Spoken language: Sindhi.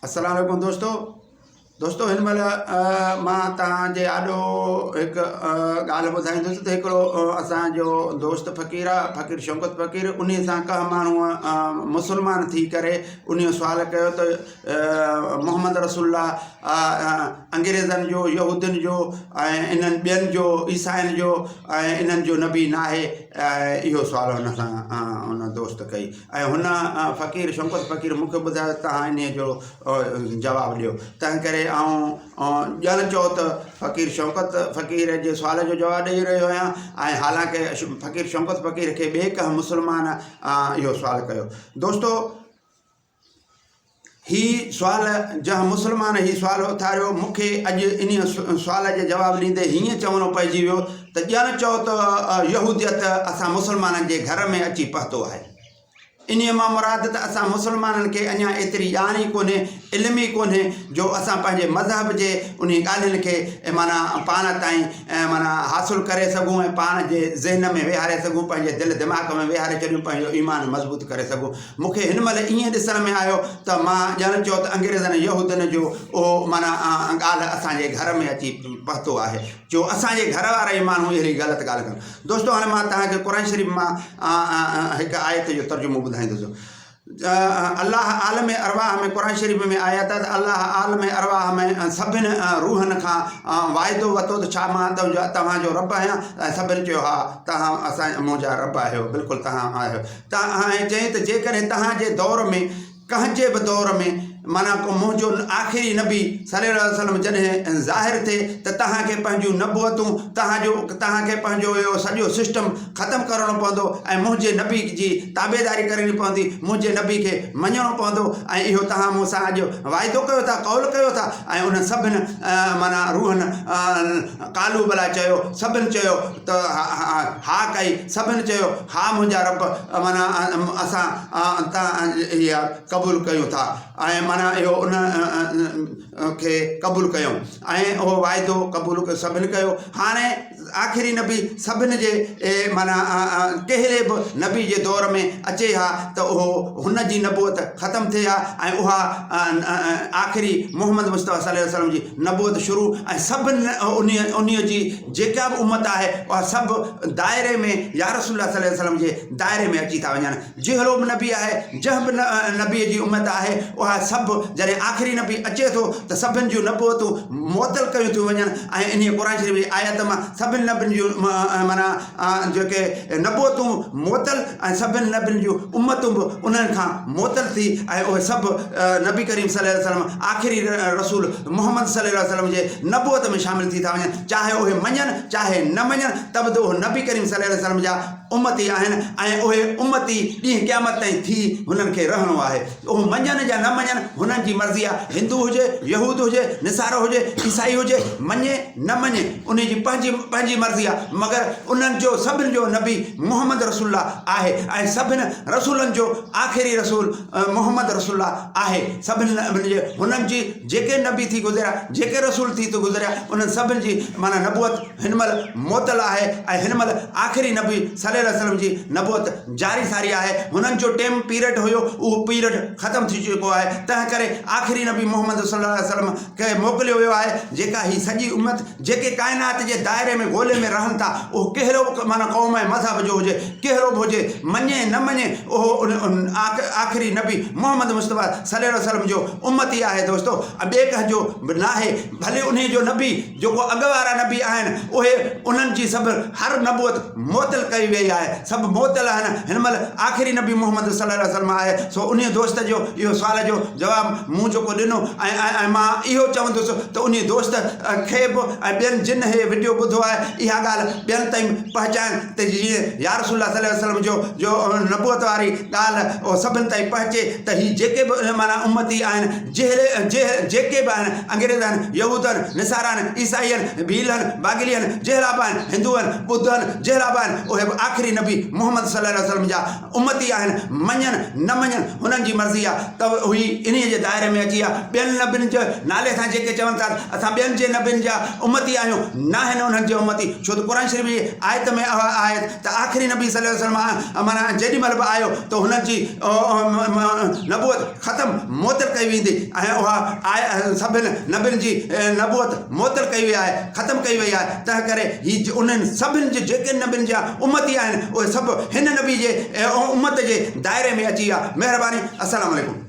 السلام عليڪم دوستو دوستو هن مهل مان تان جي آڏو هڪ ڳالهه ٻڌائيندس ته هڪڙو اسان جو دوست فقير آ فقير شوڪت فقير ان سان ڪا ماڻهو مسلمان ٿي ڪري ان سوال ڪيو ته محمد رسول الله انگريزن جو يهودين جو ۽ انهن ٻين جو عيسائين جو ۽ انهن جو نبي ناهي اهو سوال ان سان ان دوست ڪئي ۽ هن فقير شوڪت فقير مون کي ٻڌايو ته تهان انهيء جو جواب ڏيو. تنهن ڪري آئون ڄڻ چئو ته فقير شوڪت فقير جي سوال جو جواب ڏيئي رهيو آهيان ۽ حالانڪ فقير شوڪت فقير کي ٻئي ڪنهن مسلمان اهو سوال ڪيو. دوستو! هي سوال جنهن مسلمان هي سوال اٿاريو، مون کي اڄ انهيء سوال جو جواب ڏيندي هيئن چوڻو پئجي ويو ته ڄڻ چئو ته يهوديت اسان مسلمانن جي گهر ۾ اچي پهتو آهي. انهيء مان مراد ته اسان مسلمانن کي اڃا ايتري ڄاڻ ئي ڪونهي، علم ئي ڪونهي جو اسان پنهنجي مذهب جي انهي ڳالهين کي معنيٰ پاڻ تائين معنيٰ حاصل ڪري سگهون ۽ پاڻ جي ذهن ۾ ويهاري سگهون، پنهنجي دل دماغ ۾ ويهاري ڇڏيون، پنهنجو ايمان مضبوط ڪري سگهون. مون کي هن مهل ائين ڏسڻ ۾ آيو ته مان ڄڻ چئو ته انگريزن يهودين جو اهو معنيٰ ڳالهه اسان جي گهر ۾ اچي پهتو آهي جو اسان جي گهر وارا ئي ماڻهو اهڙي غلط ڳالهه ڪن دوستو هاڻي مان توهان کي قرآن شريف مان هڪ آيت جو ترجمو ٻڌائيندوسون الله عالم ارواح ۾ قرآن شريف ۾ آيا ته الله عالم ارواح ۾ سڀن روحن کان واعدو وتو ته ڇا مان توهان جو رب آهيان سڀن چيو ها توهان اسان منهنجا رب آهيو بلڪل توهان آهيو ۽ چيائين ته جيڪڏهن توهان جي دور ۾ ڪنهن جي به دور ۾ معنيٰ ڪو منهنجو آخري نبي صلّي الله عليه وسلّم جڏهن ظاهر ٿئي ته توهان کي پنهنجون نبوتون توهان جو توهان کي پنهنجو اهو سڄو سسٽم ختم ڪرڻو پوندو ۽ منهنجي نبي جي تابعداري ڪرڻي پوندي منهنجي نبي کي مڃڻو پوندو ۽ اهو توهان مون سان اڄ واعدو ڪيو ٿا قول ڪيو ٿا ۽ انهن سڀن معنيٰ روحن قالوا بليٰ چيو سڀن چيو ته ها ڪئي، سڀن چيو، ها منهنجا رب، معنيٰ اسان تان اها قبول ڪيون ٿا ۽ معنيٰ اهو انهن کي قبول ڪيو ۽ اهو واعدو قبول سڀن ڪيو. هاڻي آخري نبي سڀن جي معنيٰ ڪهڙي به نبي جي دور ۾ اچي ها ته اهو هن جي نبوت ختم ٿئي ها ۽ اها آخري محمد مصطفٰي صلي وسلم جي نبوت شروع ۽ سڀن انهيء جي جيڪا به امت آهي اها سڀ دائري ۾ يا رسول الله صلي وسلم جي دائري ۾ اچي ٿا وڃن جهڙو به نبي آهي جنهن به نبي جي امت آهي اها سڀ جڏهن آخري نبي اچي ٿو ته سڀن جون نبوتون معطل ڪيون ٿيون وڃن ۽ انهي قرآن شريف جي آيت مان سڀن نبين جون معنيٰ جيڪي نبوتون معطل ۽ سڀن نبين جون امتون به انهن کان معطل ٿي ۽ اهي سڀ نبي ڪريم صلي الله عليه وسلم آخري رسول محمد صلي الله عليه وسلم جي نبوت ۾ شامل ٿي ٿا وڃن چاهي اهي مڃن چاهي نه مڃن ته به ته اهي نبي ڪريم صلي الله عليه وسلم جا امتي آهن ۽ اهي امتي ڏينهن قيامت تائين ٿي هنن کي رهڻو آهي. اهو مڃن يا نه مڃن هنن جي مرضي آهي، هندو هجي، يهود هجي، نصارو هجي، عيسائي هجي، مڃي نه مڃي انهي جي پنهنجي پنهنجي مرضي آهي مگر انهن جو سڀن جو نبي محمد رسول الله آهي ۽ سڀن رسولن جو آخري رسول محمد رسول الله آهي سڀن هنن جي جيڪي نبي ٿي گذريا جيڪي رسول ٿي گذريا انهن سڀن جي معنيٰ نبوت هن مهل معطل آهي ۽ هن مهل آخري نبي صلي الله عليه وسلم جي نبوت جاري ساري آهي هنن جو ٽيم پيرڊ هيو اهو پيرڊ ختم ٿي چڪو آهي تنهن ڪري آخري نبي محمد صلي الله عليه وسلم کي موڪليو ويو آهي جيڪا هي سڄي امت جيڪي ڪائنات جي دائري ۾ گولي ۾ رهن ٿا اهو ڪهڙو به معنيٰ قوم ۽ مذهب جو هجي ڪهڙو به هجي مڃي نه مڃي اهو ان آخري نبي محمد مصطفيٰ صلي الله عليه وسلم جو امتي آهي دوستو ٻئي ڪنهن جو به ناهي ڀلي انهي جو نبي جيڪو اڳ وارا نبي آهن اهي انهن جي سڀ هر نبوت معطل ڪئي ويئي آهي سڀ معطل آهن هن مهل آخري نبي محمد صلي الله عليه وسلم آهي سو انهي دوست جو اهو سوال جو جواب مون جيڪو ڏنو ۽ ۽ مان اهو چوندس ته انهي دوست کي به ۽ ٻين جن هي وڊيو ٻڌو آهي اها ڳالهه ٻين تائين پهچائن ته جيئن يا رسول الله صلي وسلم جو جو نبوت واري ڳالهه اهو سڀن تائين پهچي ته هي جيڪي به معنيٰ امتي آهن جهڙي جهي جيڪي به آهن انگريزن يهودن نصارن عيسائين ڀيلن باگلين جهڙا به آهن هندوئن ٻڌن جهڙا به آهن اهي به آخري نبي محمد صلي الله عليه وسلم جا امتي آهن، مڃن نه مڃن هنن جي مرضي آ ته هي انهيء جي دائري ۾ اچي آ، ٻين نبين جي نالي سان جيڪي چون ٿا ته اسان ٻين جي نبين جا امتي آهيون، ناهن انهن جي امتي، ڇو ته قرآن شريف جي آيت ۾ اها آهي ته آخري نبي صلي وسلم معنيٰ جيڏي مهل به آيو ته هنن جي نبوت. ختم، معطل، ڪئي ويندي ۽ اها آء اهل سڀن نبين جي نبوت معطل ڪئي وئي آهي، ختم ڪئي وئي آهي، تنهنڪري هي انهن سڀن جي جيڪي نبين جا امتي آهن اهي سڀ هن نبي جي امت جي دائري ۾ اچي ويا. مهرباني السلام عليڪم.